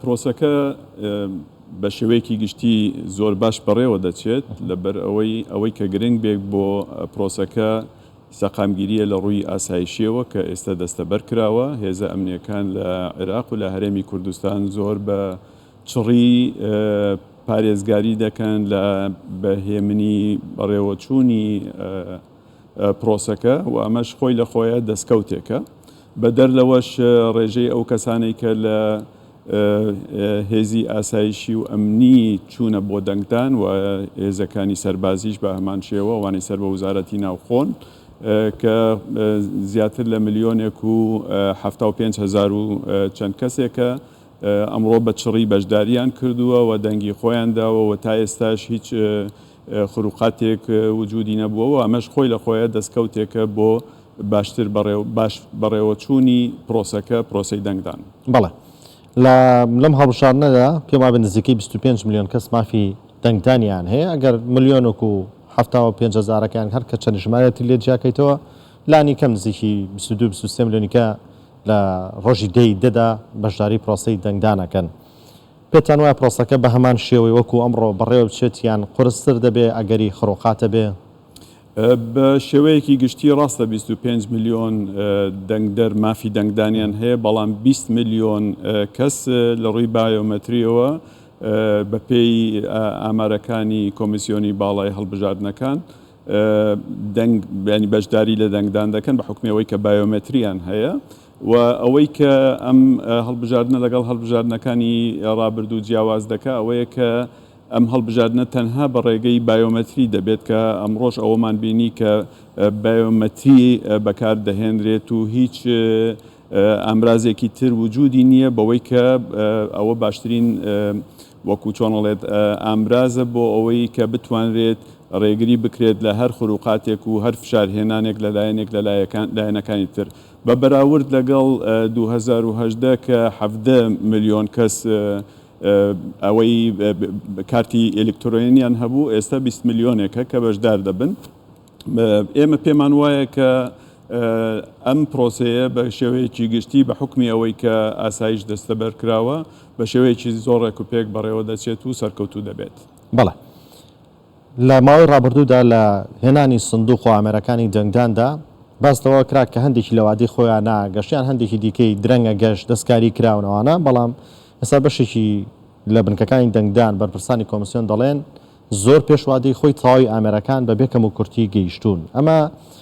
پرۆسەکە بە شێوەیەکی گشتی زۆر باش بەڕێوە دەچێت، لەبەر ئەوەی ئەوەی کە گرنگ بێ بۆ پرۆسەکە سەقامگیرییە لە ڕووی ئاسایشییەوە کە ئێستا دەستەبەر کراوە. هێزە ئەمنییەکان لە عێراق و لە هەرێمی کوردستان زۆر بە چڕی پارێزگاری دەکەن لە بە هێمنی بەڕێوەچوونی پرۆسەکە و ئەمەش خۆی لە خۆیە دەستکەوتێکە. بەدەر لەوەش ڕێژەی ئەو کەسانەی کە لە هێزی ئاسایشی و ئەمنی چوونە بۆ دەنگدان و هێزەکانی سەربازیش بە هەمان شێوە ئەوانەی سەر بە وزارەتی ناوخۆن کە زیاتر لە ملیۆنێک و حەفتا و پێنج هەزار و چەند کەسێکە ئەمڕۆ بە چڕی بەشدارییان کردووە و دەنگی خۆیان داوە و تا ئێستاش هیچ خروقاتێک وجودی نەبووە و ئەمەش خۆی لە خۆیە دەستکەوتێکە بۆ باشتر بەڕێو باش بەڕێوەچوونی پرۆسەکە، پرۆسەی دەنگدان. بەڵێ. لە لەم هەڵبژاردنەدا پێم وابێ نزیکەی بیست و پێنج ملیۆن کەس مافی دەنگدانیان هەیە، ئەگەر ملیۆنک و حەفتا و پێنج هەزارەکەیان هەر کە چەنی ژمارەیەتی لێ جیا کەیتەوە لانی کەم نزیکی بیست و دوو بیست و سێ ملیۆنیکە لە ڕۆژی دە ی دە دا بەشداری پرۆسەی دەنگدان ئەکەن. پێتان وایە پرۆسەکە بە هەمان شێوەی وەکو ئەمڕۆ بەڕێوە بچێت یان قورستر دەبێ ئەگەری خڕۆقات هەبێ؟ بە شێوەیەکی گشتی ڕاستە بیست و پێنج ملیۆن دەنگدەر مافی دەنگدانیان هەیە، بەڵام بیست ملیۆن کەس لە ڕووی بایۆمەترییەوە بەپێی ئامارەکانی کۆمیسیۆنی باڵای هەڵبژاردنەکان دەنگ بەشداری لە دەنگدان دەکەن بە حوکمی ئەوەی کە بایۆمەترییان هەیە. و ئەوەی کە ئەم هەڵبژاردنە لەگەڵ هەڵبژاردنەکانی ڕابردوو جیاواز دەکا ئەوەیە کە ئەم هەڵبژاردنە تەنها بە ڕێگەی بایۆمەتری دەبێت کە ئەمڕۆش ئەوەمان بینی کە بایۆمەتری بەکار دەهێنرێت و هیچ ئامرازێکی تر وجودی نییە بەوەی کە ئەوە باشترین وەکو چۆن ئەڵێت ئامرازە بۆ ئەوەی کە بتوانرێت ڕێگری بکرێت لە هەر خروقاتێک و هەر فشار هێنانێک لە لایەنێک لە لایەکان لایەنەکانی تر بە بەراورد لەگەڵ دوو هەزار و هەژدە کە حەڤدە ملیۆن کەس ئەوەی کارتی ئێلکترۆنییان هەبوو، ئێستا بیست ملیۆنێکە کە بەشدار دەبن. ئێمە پێمان وایە کە ئەم پرۆسەیە بە شێوەیەکی گشتی بە حوکمی ئەوەی کە ئاسایش دەستەبەر کراوە، بە شێوەیەکی زۆر ڕێکوپێک بەڕێوە دەچێت و سەرکەوتوو دەبێت. بەڵێ. لە ماوەی ڕابردوودا لە هێنانی سندوق و ئامێرەکانی دەنگداندا باس لەوە کرا کە هەندێکی لە وادەی خۆیانە گەشتیان هەندێکی دیکەی درەنگە گەشت دەستکاری کراون ئەوانە بەڵام ئێستا بەشێکی لە بنکەکانی دەنگدان بەرپرسانی کۆمسیۆن دەڵێن زۆر پێش وادەی خۆی تەواوی ئامێرەکان بەبێ کەموکورتی گەیشتوون ئەمە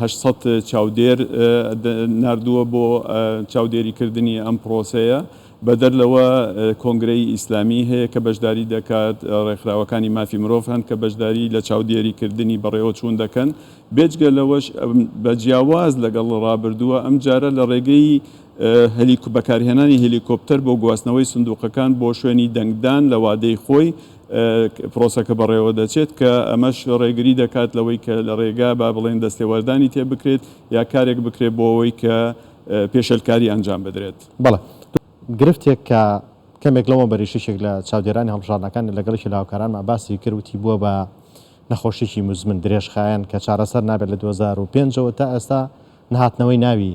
هەشت سەد چاودێر ناردووە بۆ چاودێریکردنی ئەم پرۆسەیە، بەدەر لەوە کۆنگرەی ئیسلامی هەیە کە بەشداری دەکات، ڕێکخراوەکانی مافی مرۆڤ هەن کە بەشداری لە چاودێریکردنی بەڕێوەچوون دەکەن، بێجگە لەوەش بە جیاواز لەگەڵ ڕابردووە ئەمجارە لە ڕێگەی بەکارهێنانی هێلیکۆپتەر بۆ گواستنەوەی سندووقەکان بۆ شوێنی دەنگدان لە وادەی خۆی پرۆسەکە بەڕێوە دەچێت، کە ئەمەش ڕێگری دەکات لەوەی کە لە ڕێگا با بڵێین دەستێوەردانی تێ بکرێت یا کارێک بکرێت بۆ ئەوەی کە پێشێلکاری ئەنجام بدرێت. بەڵێ گرفتێک کە کەمێک لەوەمبەریش یەکێک لە چاودێرانی هەڵبژاردنەکان لەگەڵ یەکێ لە هاوکارانمان باسی کرد وتی بووە بە نەخۆشیەکی موزمن درێژخایەن کە چارەسەر نابێت لە دوو هەزار و پێنج ەوە تا ئێستا نەهاتنەوەی ناوی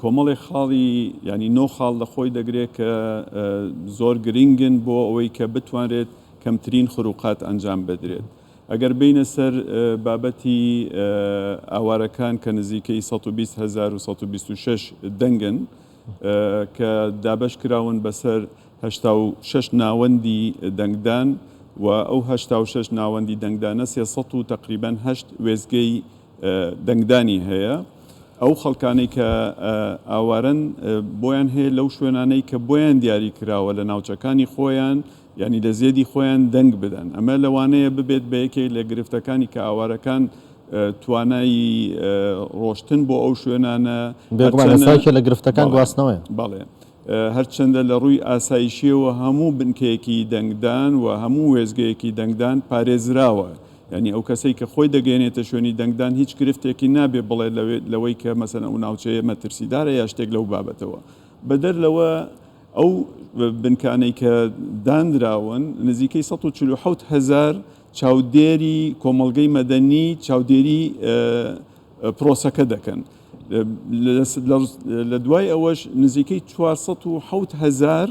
کۆمەڵێک خاڵی یانی نۆ خاڵ لە خۆی دەگرێت کە زۆر گرنگن بۆ ئەوەی کە بتوانرێت کەمترین خروقات ئەنجام بدرێت. ئەگەر بێینە سەر بابەتی ئاوارەکان کە نزیکەی سەد و بیست هەزار و سەد و بیست و شەش دەنگن کە دابەش کراون بەسەر هەشتا و شەش ناوەندی دەنگدان و ئەو هەشتا و شەش ناوەندی دەنگدانە سێ سەد و تەقریبەن هەشت وێستگەی دەنگدانی هەیە ئەو خەڵکانەی کە ئاوارەن بۆیان هەیە لەو شوێنانەی کە بۆیان دیاری کراوە لە ناوچەکانی خۆیان یانی لە زێدی خۆیان دەنگ بدەن ئەمە لەوانەیە ببێت بە یەکێک لە گرفتەکانی کە ئاوارەکان توانای ڕۆشتن بۆ ئەو شوێنانە بێگومان هەرچەنە ئێستا یەکێ لە گرفتەکان بەڵێ گواستنەوەیە. بەڵێ. هەرچەندە لە ڕووی ئاسایشییەوە هەموو بنکەیەکی دەنگدان و هەموو وێستگەیەکی دەنگدان پارێزراوە، یانی ئەو کەسەی کە خۆی دەگەیەنێتە شوێنی دەنگدان هیچ گرفتێکی نابێت بڵێت لەوەی کە مەسەلەن ئەو ناوچەیە مەترسیدارە یا شتێک لەو بابەتەوە. بەدەر لەوە ئەو بنکانەی کە دانراون نزیکەی سەد و چل و حەوت هەزار چاودێری کۆمەڵگەی مەدەنی چاودێری پرۆسەکە دەکەن. لە دوای ئەوەش نزیکەی چوار سەد و حەوت هەزار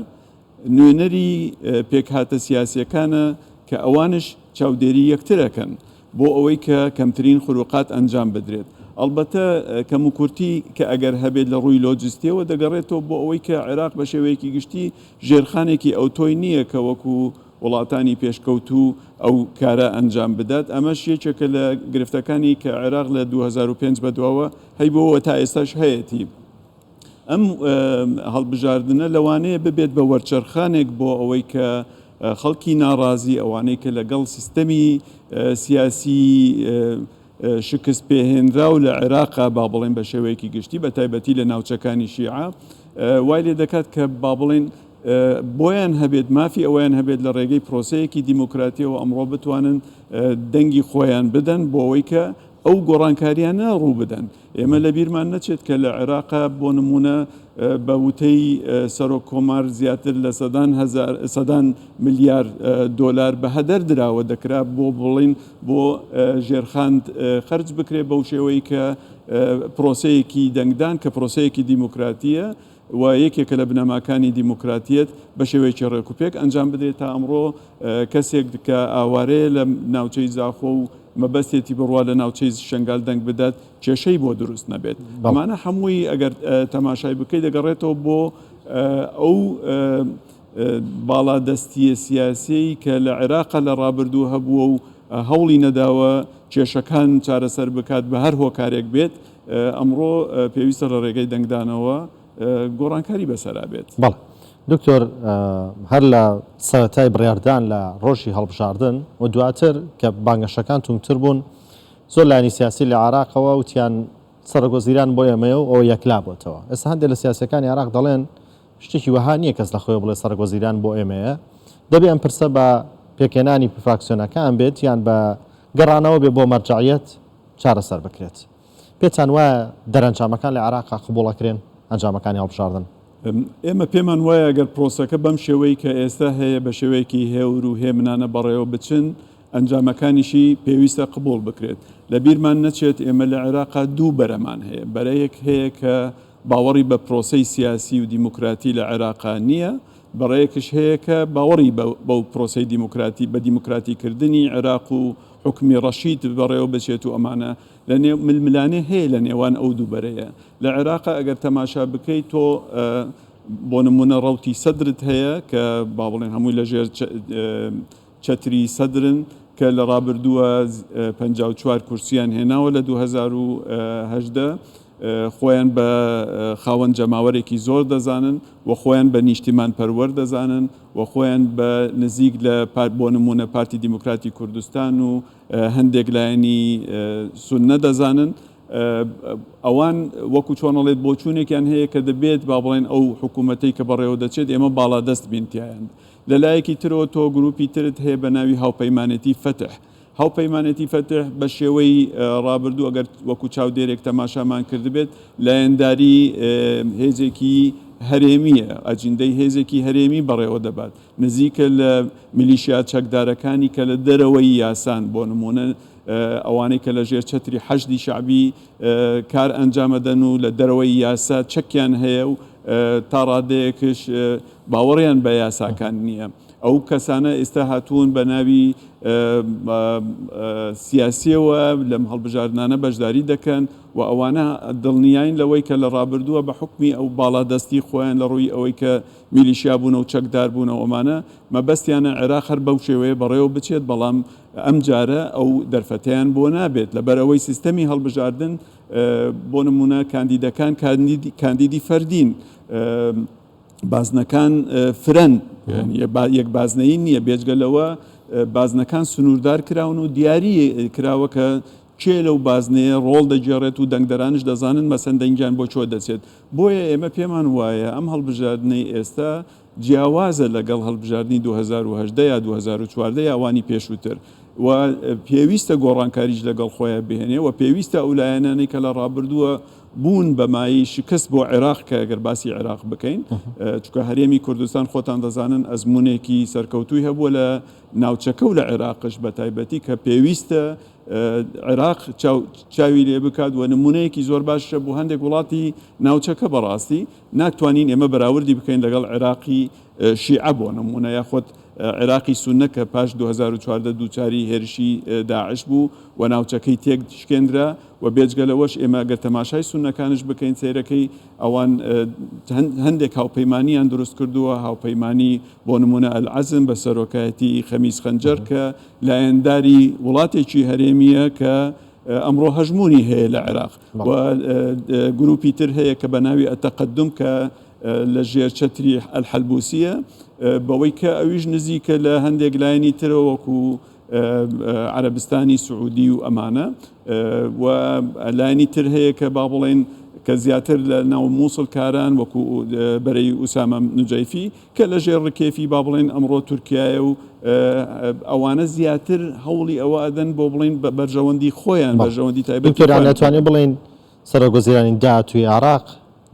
نوێنەری پێکهاتە سیاسییەکانە کە ئەوانش چاودێری یەکتر ئەکەن بۆ ئەوەی کە کەمترین خروقات ئەنجام بدرێت. ئەڵبەتە کەموکورتی کە ئەگەر هەبێت لە ڕووی لۆجستییەوە دەگەڕێتەوە بۆ ئەوەی کە عێراق بە شێوەیەکی گشتی ژێرخانێکی ئەوتۆی نییە کە وەکو وڵاتانی پێشکەوتوو ئەو کارە ئەنجام بدات، ئەمەش یەکێکە لە گرفتەکانی کە عێراق لە دوو هەزار و پێنج بەدواوە هەیبووە و تا ئێستاش هەیەتی. ئەم هەڵبژاردنە لەوانەیە ببێت بە وەرچەرخانێک بۆ ئەوەی کە خەڵکی ناڕازی، ئەوانەی کە لەگەڵ سیستەمی سیاسی، شکستپێهێنراو لە عێراقە، با بڵێین بە شێوەیەکی گشتی، بە تایبەتی لە ناوچەکانی شیعە، وای لێ دەکات کە با بڵێین بۆیان هەبێت، مافی ئەوەیان هەبێت لە ڕێگەی پرۆسەیەکی دیموکراتییەوە ئەمڕۆ بتوانن دەنگی خۆیان بدەن بۆ ئەوەی کە ئەو گۆڕانکارییانە ڕوو بدەن. ئێمە لە بیرمان نەچێت کە لە عێراقا بۆ نموونە بە وتەی سەرۆک کۆمار زیاتر لە سەدان هەزار سەدان ملیار دۆلار بە هەدەر دراوە دەکرا بۆ بڵین بۆ ژێرخاند خرج بکرێت بەو شێوەی کە پرۆسەیەکی دەنگدان کە پرۆسەیەکی دیموکراتیە و یەکێکە لە بنەماکانی دیموکراتییەت بە شێوەیەکی ڕێکوپێک ئەنجام بدرێت، تا ئەمڕۆ کەسێک کە ئاوارەیە لە ناوچەی زاخۆ و مەبەستێتی بڕوا لە ناوچەی شەنگال دەنگ بدات کێشەی بۆ دروست نەبێت، ئەمانە هەمووی ئەگەر تەماشای بکەی دەگەڕێتەوە بۆ ئەو باڵادەستییە سیاسییەی کە لە عێراق لە ڕابردوو هەبووە و هەوڵی نەداوە کێشەکان چارەسەر بکات بە هەر هۆکارێک بێت. ئەمڕۆ پێویستە لە رێگەی دەنگدانەوە گۆڕانکاری بەسەرا بێت. بەڵێ دکتۆر، هەر لە سەرەتای بڕیاردان لە رۆژی هەڵبژاردن و دواتر کە بانگەشەکان توندتر بوون، زۆر لایەنی سیاسی لە عێراقەوە وتیان سەرۆک وەزیران بۆ ئێمەیە و ئەوە یەکلا بۆتەوە. ئێستا هەندێ لە سیاسییەکانی عێراق دەڵێن شتێکی وەها نییە کەس لە خۆیەوە بڵێ سەرۆک وەزیران بۆ ئێمەیە. دەبێ ئەم پرسە بە پێکهێنانی فراکسیۆنەکان بێت یان بە گەڕانەوە بێ بۆ مەرجەعیەت چارەسەر بکرێت. پێتان وایە دەرەنجامەکان لە عێراقا قبوڵ ئەکرێن؟ ئەنجامەکانی هەڵبژاردن؟ ئێمە پێمان وایە گەر پرۆسەکە بەم شێوەی کە ئێستا هەیە بە شێوەیەکی هێور و هێمنانە بەڕێوە بچن، ئەنجامەکانیشی پێویستە قبوڵ بکرێت. لە بیرمان نەچێت ئێمە لە عێراقا دوو بەرەمان هەیە، بەرەیەک هەیە کە باوەڕی بە پرۆسەی سیاسی و دیموکراتی لە عێراقا نییە، بەڕەیەکش هەیە کە باوەڕی بە بەو پرۆسەی دیموکراتی، بە دیموکراتیکردنی عێراق و حوکمی ڕەشید بەڕێوە بچێت و ئەمانە لە نێو ململانێ هەیە لە نێوان ئەو دوو بەرەیە لە عێراقا ئەگەر تەماشا بکەیت تۆ بۆ نمونە ڕەوتی سەدرت هەیە کە با بڵێن هەمووی لە ژێر چەتری سەدرن کە لە ڕابردووە 54 کورسیان هێناوە لە 2018 خۆیان بە خاوەن جەماوەرێکی زۆر دەزانن و خۆیان بە نیشتیمان پەروەەر دەزانن و خۆیان بە نزیک لە پارت بۆ نموونە پارتی دیموکراتی کوردستان و هەندێک لایەنی سوننە دەزانن ئەوان وەکو چۆنەڵێت بۆچوونێکیان هەیە کە دەبێت با بڵێن ئەو حکوومەتەی کە بەڕێوە دەچێت ئێمە باڵا دەست بینتیایند لەلایەکی ترەوە تۆ گروپی ترت هەیە بە ناوی هاوپەیمانێتی فەتح هاوپەیمانێتی فەتح بە شێوەی ڕابردوو ئەگەر وەکو چاودێرێک تەماشامان کردبێت لایەنداری هێزێکی هەرێمییە، ئەجندەی هێزێکی هەرێمی بەڕێوە دەبات، نزیکە لە میلیشیا چەکدارەکانی کە لە دەرەوەی یاسان، بۆ نموونە ئەوانەی کە لە ژێر چەتری حەشدی شەعبی کار ئەنجام ئەدەن و لە دەرەوەی یاسا چەکیان هەیە و تا ڕادەیەکش باوەڕیان بە یاساکان نییە. ئەو کەسانە ئیستا هاتوون بە ناوی سیاسیەوە لەم هەڵبژاردنانە بەشداری دەکەن و ئەوانە دڵنیاین لەوەی کە لە ڕابردووە بە حکمی ئەو باڵا دەستی خۆیان لە ڕووی ئەوەی کە میلیشیا بوون و چەکدار بوون و ئەمانە مەبەستیانە عێراق هەر بەو شێوەیە بەڕێوە بچێت بەڵام ئەم جارە ئەو دەرفەتیان بۆ نابێت لەبەرەوەی سیستەمی هەڵبژاردن بۆ نمونە کاندیدەکان کاندیدی فەردین بازنەکان فرەن، یەک بازنەیی نییە، بێجگە لەوە بازنەکان سنووردار کراون و دیاری کراوە کە کێ لەو بازنەیە ڕۆڵ دەگێڕێت و دەنگدەرانش دەزانن مەسەن دەنگیان بۆ چۆ دەچێت بۆیە ئێمە پێمان وایە ئەم هەڵبژاردنەی ئێستا جیاوازە لەگەڵ هەڵبژاردننی 2010 یا 2014 یاوانی پێشووتر و پێویستە گۆڕانکاریش لەگەڵ خۆیان بهێنێ و پێویستە ئەو لایەنانەی کە لە ڕابردووە بوون بە مایەی شکست بۆ عێراق کە گەر باسی عێراق بکەین چونکە هەرێمی کوردستان خۆتان دەزانن ئەزموونێکی سەرکەوتووی هەبووە لە ناوچەکە و لە عێراقش بە تایبەتی کە پێویستە عێراق چاوی لێ بکات و نمونەیەکی زۆر باشە بۆ هەندێک وڵاتی ناوچەکە بەڕاستی ناتوانین ئێمە بەراوردی بکەین لەگەڵ عێراقی شیعە بۆ نمونە یاخۆت عێراقی سونە کە پاش 2014 دووچاری هێرشی داعش بوو و ناوچەکەی تێک شکێندرا وە بێجگە لەوەش ئێمە گەر تەماشای سوننەکانش بکەین سەیرەکەی ئەوان هەندێک هاوپەیمانیان دروست کردووە هاوپەیمانی بۆ نمونە ئەلعەزم بە سەرۆکایەتی خەمیس خەنجەر کە لایەنداری وڵاتێکی هەرێمیە کە ئەمڕۆ هەژمونی هەیە لە عێراق و گروپی تر هەیە کە بە ناوی ئەتەقەدم کە لە ژێر چەتری ئەلحەلبوسیە بەوەی کە ئەویش نزیکە لە هەندێک لایەنی ترەوەکو عربستانی سعودی و ئەمانە و لایەنی تر هەیە کە با بڵێین کە زیاتر لە ناو مووسڵ کاران وەکو بەرەی ئوسامە نجەیفی کە لە ژێر ڕکێفی با بڵێن ئەمڕۆ تورکایە و ئەوانە زیاتر هەوڵی ئەوە ئەدەن بۆ بڵین بە بەرژەوەندی خۆیان بەرژەوەندی تایبەتیران ناتوانێت بڵین سەرۆک وەزیرانی داهاتوی عراق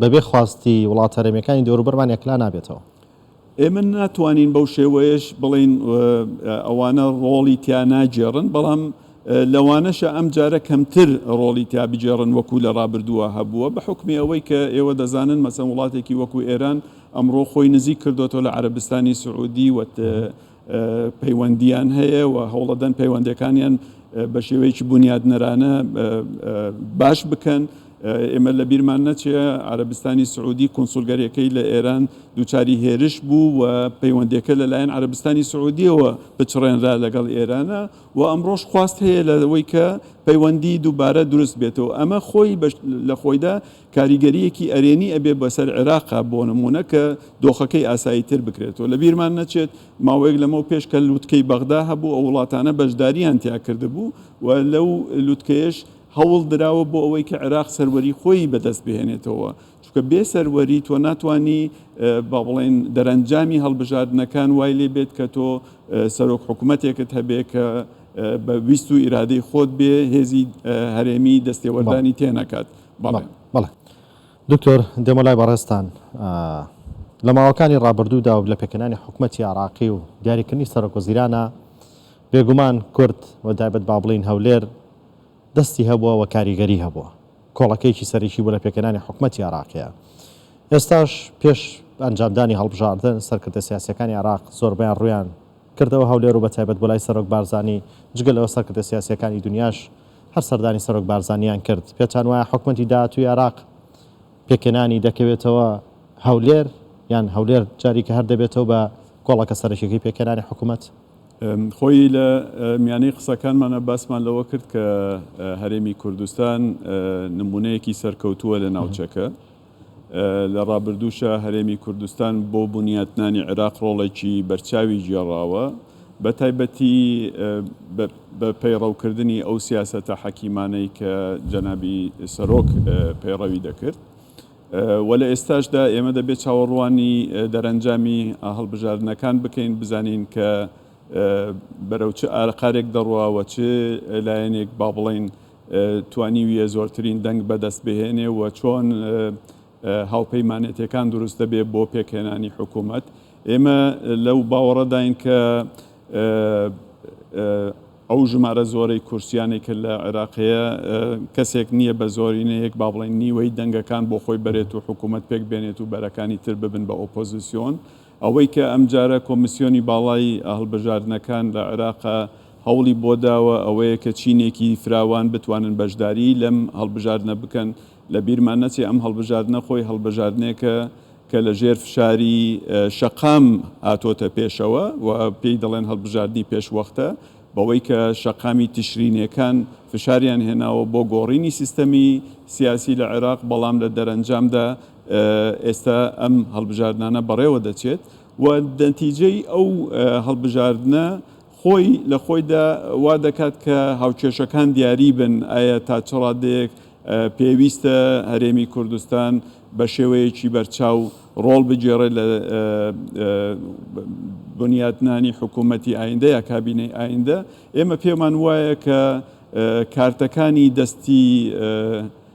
بەبێ خواستی وڵاتەرەمیەکانی دەوروبەرمان یەکلا نابێتەوە ئێمە ناتوانین بەو شێوەیەش بڵێین ئەوانە ڕۆڵی تیا ناگێڕن، بەڵام لەوانەشە ئەمجارە کەمتر ڕۆڵی تیا بگێڕن وەکو لە ڕابردووە هەبووە، بە حوکمی ئەوەی کە ئێوە دەزانن مەسەن وڵاتێکی وەکو ئێران ئەمڕۆ خۆی نزیک کردۆتەوە لە عەرەبستانی سعودی و پەیوەندییان هەیە و هەوڵەدەن پەیوەندییەکانیان بە شێوەیەکی بونیادنەرانە باش بکەن. ئێمە لە بیرمان نەچێ عەرەبستانی سعودی کونسولگەریەکەی لە ئێران دووچاری هێرش بوو و پەیوەندیەکە لەلایەن عەرەبستانی سعودیەوە پچڕێنرا لەگەڵ ئێرانە و ئەمڕۆش خواست هەیە لەوەی کە پەیوەندی دووبارە دروست بێتەوە ئەمە خۆی لە خۆیدا کاریگەریەکی ئەرێنی ئەبێ بەسەر عێراقا بۆ نمونە کە دۆخەکەی ئاسایی تر بکرێتەوە لە بیرمان نەچێت ماوەیەک لەمەو پێش کە لوتکەی بەغدا هەبوو ئەو وڵاتانە بەشداریان تیا کردبوو و لەو لوتکەیەش هەوڵ دراوە بۆ ئەوەی کە عێراق سەروەری خۆیی بەدەست بهێنێتەوە چونکە بێ سەروەری تۆ ناتوانی با بڵێن دەرەنجامی هەڵبژاردنەکان وای لێ بێت کە تۆ سەرۆک حکوومەتێکت هەبێ کە بە ویست و ئیرادەی خۆت بێ هێزی هەرێمی دەستێوەردانی تێنەکات بەڵێ دکتۆر دێمە لای بەڕێزتان لە ماوەکانی ڕابردوودا و لە پێکهێنانی حکومەتی عراقی و دیاریکردنی سەرۆک وەزیرانە بێگومان کورد و دایبەت با بڵین هەولێر دەستی هەبووە و کاریگەری هەبووە کۆڵەکەیەکی سەرەکی بوو لە پێکهێنانی حکومەتی عراقیە ئێستاش پێش ئەنجامدانی هەڵبژاردن سەرکردە سیاسەکانی عراق زۆربیان ڕویان کردەوە هەولێر و بە تایبەت بۆ لای سەرۆک بارزانی جگە لەوە سەرکردە سیاسەکانی دنیاش هەر سەردانی سەرۆک بارزانییان کرد. پێتان وایە حکومەتی داهاتووی عێراق پێکهێنانی دەکەوێتەوە هەولێر، یان هەولێر جاریکە هەر دەبێتەوە بە کۆڵەکە سەرەکییەکەی پێکهێنانی حکومەت؟ خۆی لە میانەی قسەکانمانا باسمان لەوە کرد کە هەرێمی کوردستان نموونەیەکی سەرکەوتووە لە ناوچەکە. لە ڕابردووشا هەرێمی کوردستان بۆ بنیاتنانی عێراق ڕۆڵێکی بەرچاوی گێڕاوە، بەتایبەتی بە پەیڕەوکردنی ئەو سیاسەتە حەکیمانەی کە جەنابی سەرۆک پەیڕەوی دەکرد و لە ئێستاشدا ئێمە دەبێت چاوەڕوانی دەرەنجامی هەڵبژاردنەکان بکەین بزانین کە بەرەو چ ئاقارێک دەڕوا و چ لایەنێک با بڵێین توانیویە زۆرترین دەنگ بەدەست بهێنێ و چۆن هاوپەیمانێتیەکان دروست دەبێ بۆ پێکهێنانی حکومەت. ئێمە لەو باوەڕەداین کە ئەو ژمارە زۆرەی کورسیانەی کە لە عێراق هەیە کەسێک نییە بە زۆرینەیەک با بڵێین نیوەی دەنگەکان بۆ خۆی بەرێت و حکومەت پێک بێنێت و بەرەکانی تر ببن بە ئۆپۆزسیۆن. ئەوەی کە ئەمجارە کۆمیسیۆنی باڵای هەڵبژاردنەکان لە عێراق هەوڵی بۆ داوە ئەوەیە کە چینێکی فراوان بتوانن بەشداریی لەم هەڵبژاردنە بکەن، لە بیرمان نەچێ ئەم هەڵبژاردنە خۆی هەڵبژاردنێکە کە لە ژێر فشاری شەقام هاتۆتە پێشەوە و پێی دەڵێن هەڵبژاردنی پێش وەختە بەوەی کە شەقامی تشرینیەکان فشاریان هێناوە بۆ گۆڕینی سیستەمی سیاسی لە عێراق بەڵام لە دەرەنجامدا ئێستا ئەم هەڵبژاردنانە بەڕێوە دەچێت و نەتیجەی ئەو هەڵبژاردنە خۆی لە خۆیدا وا دەکات کە هاوکێشەکان دیاری بن ئایا تا چ ڕادەیەک پێویستە هەرێمی کوردستان بە شێوەیەکی بەرچاو ڕۆڵ بگێڕێت لە بنیاتنانی حکوومەتی ئایندە یا کابینەی ئایندە ئێمە پێمان وایە کە کارتەکانی دەستی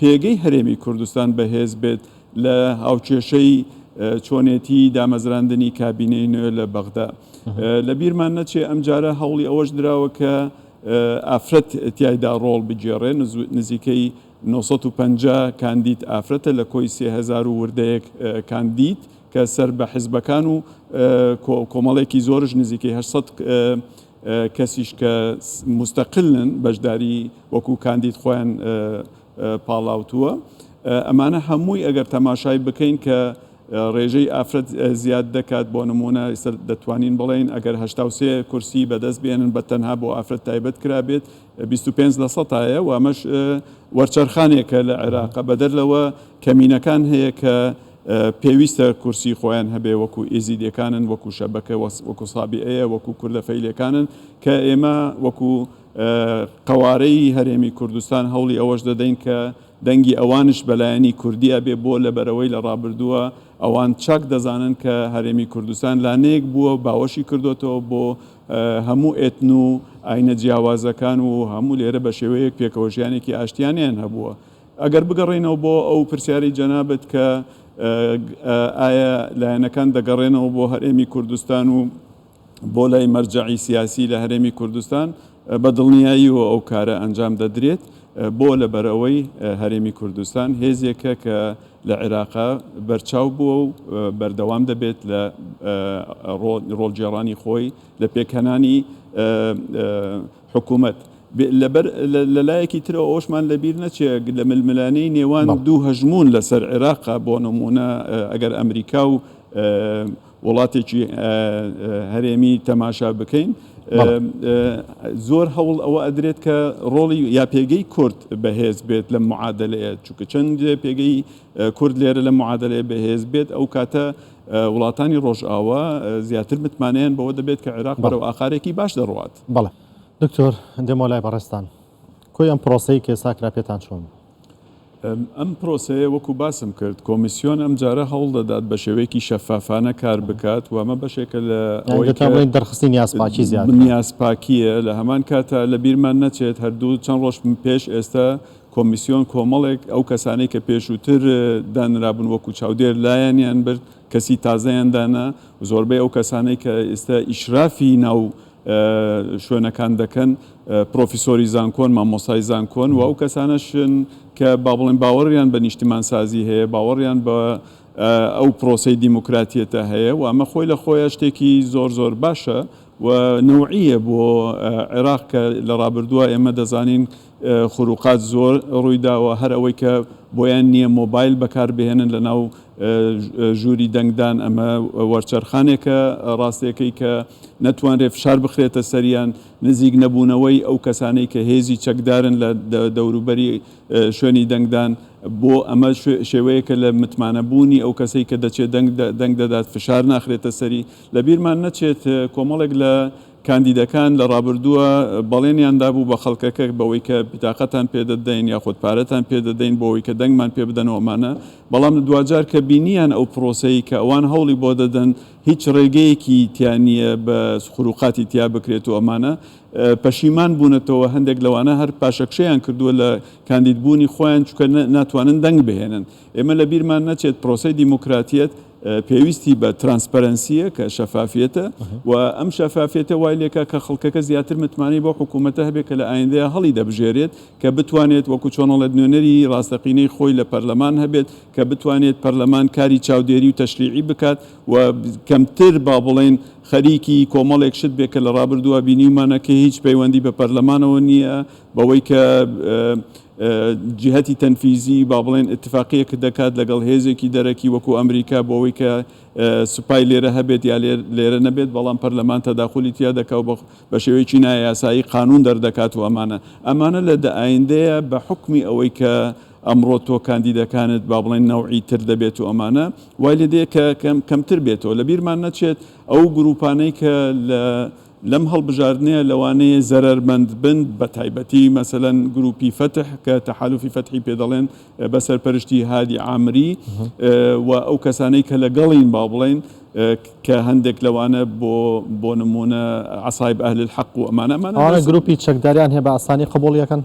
پێگەی هەرێمی کوردستان بەهێز بێت لە هاوکێشەی چۆنێتی دامەزراندنی کابینەی نوێ لە بەغدا. لە بیرمان نەچێ ئەمجارە هەوڵی ئەوەش دراوە کە ئافرەت تیایدا ڕۆڵ بگێڕێ، نزیکەی نۆ سەد و پەنجا کاندید ئافرەتە لە کۆی سێ هەزار و وردەیەک کاندید کە سەر بە حزبەکان و کۆمەڵێکی زۆرش نزیکەی هەشت سەد کەسیش کە موستەقلن بەشداری وەکو کاندید خۆیان پاڵاوتووە ئەمانە هەمووی ئەگەر تەماشای بکەین کە ڕێژەی ئافرەت زیاد دەکات بۆ نموونە ئێستا دەتوانین بڵێین ئەگەر هەشتا و سێ کورسی بەدەست بێنن بە تەنها بۆ ئافرەت تایبەت کرابێت بیست و پێنج لە سەتایە و ئەمەش وەرچەرخانێکە لە عێراق بەدەر لەوە کەمینەکان هەیە کە پێویستە کورسی خۆیان هەبێ وەکو ئێزیدێکانن وەکو شەبەکە وەکو سابیئەیە وەکو کوردە فەیلێکانن کە ئێمە وەکو قەوارەی هەرێمی کوردستان هەوڵی ئەوەش دەدەین کە دەنگی ئەوانش بەلایەنی کوردیا بێ بۆ لە بەرەوەی لە ڕابردووە ئەوان چاک دەزانن کە هەرێمی کوردستان لانەیەک بووە باوەشی کردوێتەوە بۆ هەموو ئێتن و ئاینە جیاوازەکان و هەموو لێرە بە شێوەیەک پێکەوەژیانێکی ئاشتیانیان هەبووە ئەگەر بگەڕێینەوە بۆ ئەو پرسیارەی جەنابت کە ئایا لایەنەکان دەگەڕێنەوە بۆ هەرێمی کوردستان و بۆ لای مەرجەعی سیاسی لە هەرێمی کوردستان بە دڵنیاییەوە ئەو کارە ئەنجام دەدرێت بۆ لەبەرئەوەی هەرێمی کوردستان هێزێکە کە لە عێراق بەرچاو بووە و بەردەوام دەبێت لە ڕۆڵگێڕانی خۆی لە پێکهێنانی حکومەت. لەبەر لە لایەکی ترەوە ئەوەشمان لەبیر نەچێ لە ململانێی نێوان دوو هەژموون لەسەر عێراقا بۆ نموونە ئەگەر ئەمریکا و وڵاتێکی هەرێمی تەماشا بکەین زۆر هەوڵ ئەوە ئەدرێت کە ڕۆڵی یا پێگەی کورد بەهێز بێت لەم معادەلەیە چونکە چەند پێگەی کورد لێرە لەم معادەلەیە بەهێز بێت ئەو کاتە وڵاتانی ڕۆژئاوا زیاتر متمانەیان بەوە دەبێت کە عێراق بەرەو ئاقارێکی باش دەڕوات. بەڵێ دکتۆر دێمەوە لای بەڕێزتان. کۆی ئەم پرۆسەی کە ئێستا کرا پێتان چۆن بوو؟ ئەم پرۆسەیە وەکو باسم کرد کۆمیسیۆن ئەمجارە هەوڵ دەدات بە شێوەیەکی شەفافانە کار بکات و ئەمە بەشێکە لە یان ئەوەی دەتوان کە بڵێن دەرخستنی نیازپاکی زیاترە. نیازپاکییە، لە هەمان کاتە لە بیرمان نەچێت هەر دوو چەند ڕۆژ پێش ئێستا کۆمیسیۆن کۆمەڵێک ئەو کەسانەی کە پێشووتر دانرابوون وەکو چاودێر لایانیان برد، کەسی تازەیان دانا و زۆربەی ئەو کەسانەی کە ئێستا ئیشرافی ناو شوێنەکان دەکەن پرۆفیسۆری زانکۆن، مامۆستای زانکۆن و ئەو کەسانەشن کە با بڵێین باوەڕیان بە نیشتیمانسازی هەیە، باوەڕیان بە ئەو پرۆسەی دیموکراتیەتە هەیە و ئەمە خۆی لە خۆیا شتێکی زۆر زۆر باشە و نەوعییە بۆ عێراق کە لە ڕابردووە ئێمە دەزانین خروقات زۆر ڕوویداوە هەر ئەوەی کە بۆیان نییە مۆبایل بەکاربهێنن لەناو ژووری دەنگدان، ئەمە وەرچەرخانێکە ڕاستەکەی کە نەتوانرێت فشار بخرێتە سەریان، نزیک نەبوونەوەی ئەو کەسانەی کە هێزی چەکدارن لە دەوروبەری شوێنی دەنگدان، بۆ ئەمە شێوەیەکە لە متمانەبوونی ئەو کەسەی کە دەچێت دەنگ دەدات فشار ناخرێتە سەری، لەبیرمان نەچێت کۆمەڵێک لە. کاندیدەکان لە ڕابردووە بەڵێنیان دابوو بە خەڵکەکە بەوەی کە بتاقەتان پێ دەدەین یاخود پارەتان پێ دەدەین بۆ ئەوەی کە دەنگمان پێ بدەن و ئەمانە، بەڵام دواجار کە بینییان ئەو پرۆسەی کە ئەوان هەوڵی بۆ دەدەن هیچ ڕێگەیەکی تیا نییە بە خروقاتی تیا بکرێت و ئەمانە، پەشیمان بوونەتەوە، هەندێک لەوانە هەر پاشەکشەیان کردووە لە کاندیدبوونی خۆیان چونکە ناتوانن دەنگ بهێنن. ئێمە لە بیرمان نەچێت پرۆسەی دیموکراتیەت پێویستی بە ترانسپەرەنسیە کە شەفافیەتە و ئەم شەفافیەتە وای لێکە کە خەڵکەکە زیاتر متمانەی بۆ حکوومەتە هەبێت کە لە ئایندەیە هەڵی دەبژێرێت کە بتوانێت وەکو چۆنەڵێت نوێنەری ڕاستەقینەی خۆی لە پەرلەمان هەبێت کە بتوانێت پەرلەمان کاری چاودێری و تەشریعی بکات و کەمتر با بڵێن خەریکی کۆمەڵێک شت بێ کە لە ڕابردووە بینیمانە کە هیچ پەیوەندی بە پەرلەمانەوە نییە بەوەی کە جیهەتی تەنفیزی با بڵێن ئیتفاقیەک دەکات لەگەڵ هێزێکی دەرەکی وەکو ئەمریکا بۆ ئەوەی کە سوپای لێرە هەبێت یا لێرە نەبێت بەڵام پەرلەمان تەداخولی تیا دەکا و بە شێوەیەکی نا یاسایی قانون دەردەکات و ئەمانە ئەمانە لە دە ئایندەیە بە حوکمی ئەوەی کە ئەمڕۆ تۆ کاندیدەکانت با بڵێن نەوعی تر دەبێت و ئەمانە وای لێ دێ کە کەمتر بێتەوە لە بیرمان نەچێت ئەو گروپانەی کە لە لەم هەڵبژاردنەیە لەوانەیە زەرەرمەندبن، بەتایبەتی مەسەلەن گرووپی فەتح کە تەحالوفی فەتحی پێ دەڵێن بە سەرپەرشتی هادی عامری و ئەو کەسانەی کە لەگەڵین با بڵێین کە هەندێک لەوانە بۆ بۆ نموونە عەسایب ئەهل الحەق و ئەمانە ئەمانە ئەوانە دەست گروپی چەکداریان هەیە بە ئاسانی قبوڵیەکەن؟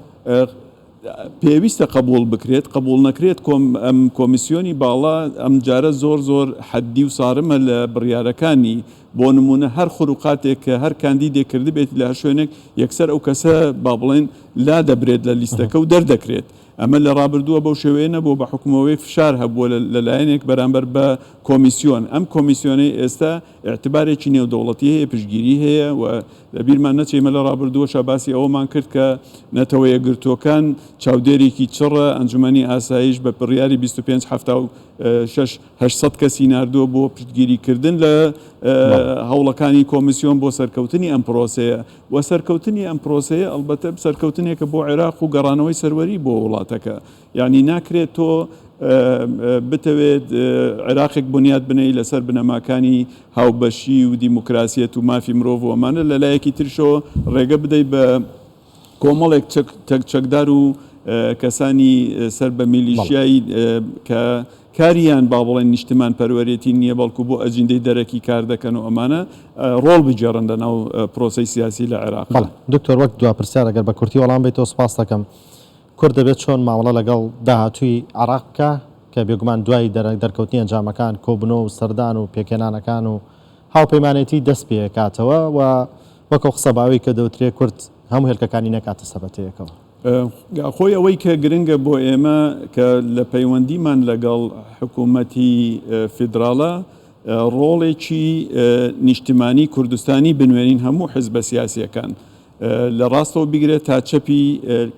پێویستە قبوڵ بکرێت قبوڵ نەکرێت کۆم ئەم کۆمیسیۆنی باڵا ئەمجارە زۆر زۆر حەددی و سارمە لە بڕیارەکانی بۆ نموونە هەر خروقاتێک کە هەر کاندیدێک کردبێتی لە هەر شوێنێک، یەکسەر ئەو کەسە با بڵێین لادەبرێت لە لیستەکە و دەردەکرێت. ئەمە لە رابردووە بەو شێوەیە نەبووە، بە حوکمەوەی فشار هەبووە لە لایەنێک بەرامبەر بە کۆمیسیۆن. ئەم کۆمیسیۆنەی ئێستا ئیعتبارێکی نێودەوڵەتی هەیە، پشتگیری هەیە و لە بیرمان نەچێ ئێمە لە رابردووەشا باسی ئەوەمان کرد کە نەتەوە یەکگرتووەکان چاودێرێکی چڕە، ئەنجومەنی ئاسایش بە بڕیاری بیست و پێنج حەفتا و شەش، هەشت سەد کەسی ناردووە بۆ پشتگیریکردن لە هەوڵەکانی کۆمیسیۆن بۆ سەرکەوتنی ئەم پرۆسەیە و سەرکەوتنی ئەم پرۆسەیە ئەڵبەتە سەرکەوتنێکە بۆ عێراق و گەڕانەوەی سەروەری بۆ وڵاتەکە یانی ناکرێت تۆ بتەوێت عێراقێک بنیات بنەی لەسەر بنەماکانی هاوبەشی و دیموکراسیەت و مافی مرۆڤ و ئەمانە لەلایەکی ترشەوە ڕێگە بدەیت بە کۆمەڵێک چەک چەکدار و کەسانی سەر بە میلیشیای کە کاریان با بڵێن نیشتمان پەروەرێتی نییە بەڵکو بۆ ئەجیندەی دەرەکی کار دەکەن و ئەمانە ڕۆڵ بگێڕن لە ناو پرۆسی سیاسی لە عێراق دکتۆر وەک دو پرسیار ئەگەر بە کورتی وەڵام بیتەوە سپاس دەکەم کورد دەبێت چۆن مامەڵە لەگەڵ داهاتووی عێراق بکە کە بێگومان دوای دەرکەوتنی ئەنجامەکان کۆبنەوە و سەردان و پێکهێنانەکان و هاوپەیمانێتی دەست پێکاتەوە و وەک ئەو قسە باوەی کە دەوترێ کورد هەموو هێلکەکانی نەکاتە سەبەتەیەکەوە. خۆی ئەوەی کە گرنگە بۆ ئێمە کە لە پەیوەندیمان لەگەڵ حکوومەتی فیدراڵە ڕۆڵێکی نیشتمانی کوردستانی بنوێنین هەموو حزبە سیاسییەکان لە ڕاستەوە بگرە تا چەپی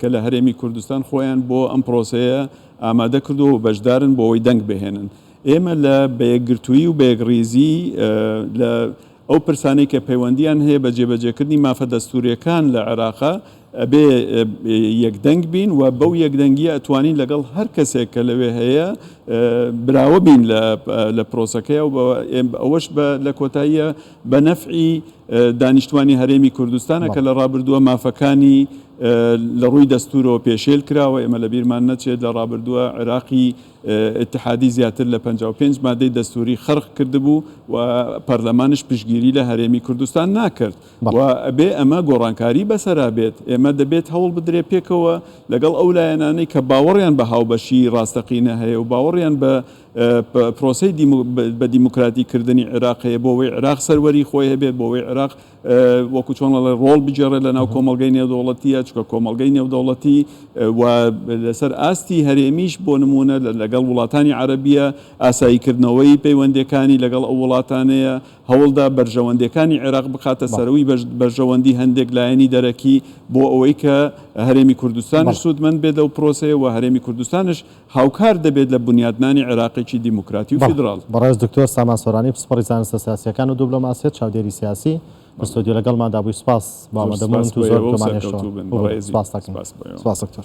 کە لە هەرێمی کوردستان خۆیان بۆ ئەم پرۆسەیە ئامادە کردووە و بەشدارن بۆ ئەوەی دەنگ بهێنن ئێمە لە بەیەکگرتوویی و بەیەکڕیزی لە ئەو پرسانەی کە پەیوەندییان هەیە بە جێبەجێکردنی مافە دەستوورییەکان لە عێراقە، ئەبێ یەکدەنگ بین و بەو یەکدەنگییە ئەتوانین لەگەڵ هەر کەسێک کە لەوێ هەیە براوە بین لە پرۆسەکەیا و ئەوەش لە کۆتاییە بە نەفعی دانیشتوانی هەرێمی کوردستانە کە لە ڕابردووە مافەکانی لە ڕووی دەستوورەوە پێشێل کراوە، ئێمە لەبیرمان نەچێت لە ڕابردووە عێراقی ئیتحادی زیاتر لە پەنجا و پێنج مادەی دەستووری خەرق کردبوو و پەرلەمانیش پشتگیری لە هەرێمی کوردستان ناکرد و بەڵێ. ئەبێ ئەمە گۆڕانکاری بەسەرا بێت. ئێمە دەبێت هەوڵ بدرێت پێکەوە لەگەڵ ئەو لایەنانەی کە باوەڕیان بە هاوبەشیی ڕاستەقینە هەیە و باوەڕیان بە پرۆسەی دیمو بە دیموکراتیکردنی عێراق هەیە بۆ وەی عێراق سەروەریی خۆی هەبێت، بۆ وەی عێراق وەکو چۆن ئەڵێ ڕۆڵ بگێڕێت لە ناو کۆمەڵگەی نێودەوڵەتیە چکە کۆمەڵگەی نێودەوڵەتی و لەسەر ئاستی هەرێمیش بۆ نمونە لەگەڵ وڵاتانی عەرەبیە ئاسایی کردنەوەی پەیوەندەکانی لەگەڵ ئەو وڵاتانەیە هەوڵدا بەرژەوەندەکانی عێراق بخاتە سەرەوەی بەرژەوەندی هەندێک لایەنی دەرەکی بۆ ئەوەی کە هەرێمی کوردستانش سوودمەند بێت لەو پرۆسەیە و هەرێمی کوردستانش هاوکار دەبێت لە بونیادنانی عێراقێکی دیموکراتی و فیدراڵ. بەڕێز دکتۆر سامان سۆرانی پسپۆڕی زانستە سیاسییەکان و دوبلۆماسیەت چاودێری سیاسی لە ستۆدیۆ لەگەڵماندا بووی سپاس بۆ ئامادەبوونت و زۆر بۆمان هێشتەوە. سپاس دکتۆر.